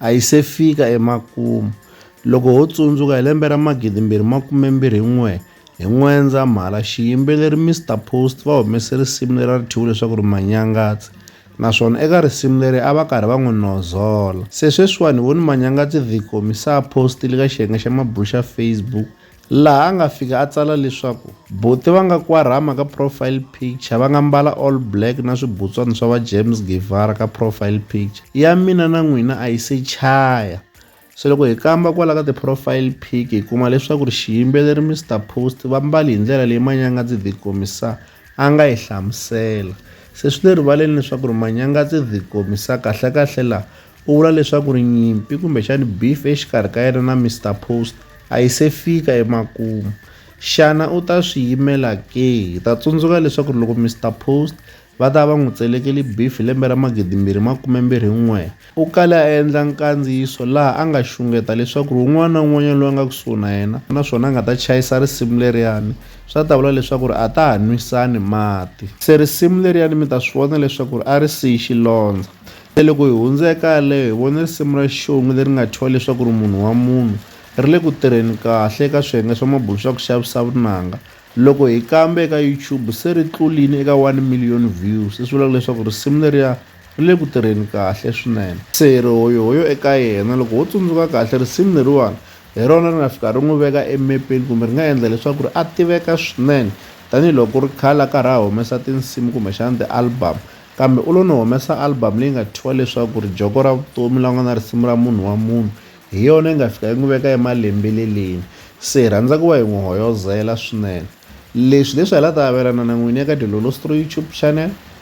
A yi se fika emakumu. Loko ho tsundzuka hi lembe ra magidimbirhi makume mbirhi n'we, hi N'wendzamhala, xiyimbeleri Mister Post va humese risimu leri a ri thyiwe leswaku ri Manyangatsi, naswona eka risimu leri a va karhi va n'wi nozola. Se sweswiwani hi voni Manyangatsi The Commissar a postile ka xiyenge xa mabulo xa Facebook laha a nga fika a tsala leswaku Bote va nga kwarhama ka profile picture, va nga mbala all black na swibutswana swa va James Guevara ka profile picture ya mina na n'wina a yi se chaya. Se loko hi kamba kwala ka ti-profile pic hi kuma leswaku ri xiyimbeleri Mister Post va mbali hi ndlela leyi manyanga dzi dhi komisa. a nga yi hlamusela. Se swi le rivaleni leswaku ri Manyangatse the Komissa kahlekahle laha u vula leswaku ri nyimpi kumbexani beef exikarhi ka yena na Mister Post a yi se fika emakumu. Xana u ta swi yimela ke? Hi ta tsundzuka leswaku ri loko Mister Post va ta va va n'wi tselekeli beef hi lembe ra magidimbirhi makumembirhi n'we, U kale a endla nkandziyiso laha a nga xungeta leswaku ri un'wana na un'wanyana loyi a nga kusuhi na yena naswona a nga ta chayisa risimu leriyani, swi a ta vula leswaku ri a ta ha nwisani mati. Se risimu leriyani mi ta swi vona leswaku ri a ri siyi xilondza. Se loko hi hundze eka yaleyo, hi vone risimu ra xixongi leri nga thyiwa leswaku ri Munhu wa Munhu, ri le ku tirheni kahle eka swiyenge swa mabulo swa ku xavisa vunanga. Loko hi kambe eka YouTube, se ri tluline eka one million views, leswi vulaka leswaku risimu leriya Ri le ku tirheni kahle swinene. Se hi ri hoyohoyo eka yena. Loko ho tsundzuka kahle, risimu leriwani hi rona ri nga fika ri n'wi veka emepeni kumbe ri nga endla leswaku ri a tiveka swinene tanihi loko ku ri khale a karhi a humesa tinsimu kumbexana ti-album. Kambe u lo no humesa album leyi nga thyiwa leswaku ri Joko ra Vutomi laha ku nga na risimu ra Munhu wa Munhu. Hi yona yi nga fika yi n'wi veka emalembeleleni. Se hi rhandza ku va hi n'wi hoyozela swinene. Leswi hileswi hi la ta avelana na n'wina eka Dilolo Stroy YouTube Channel.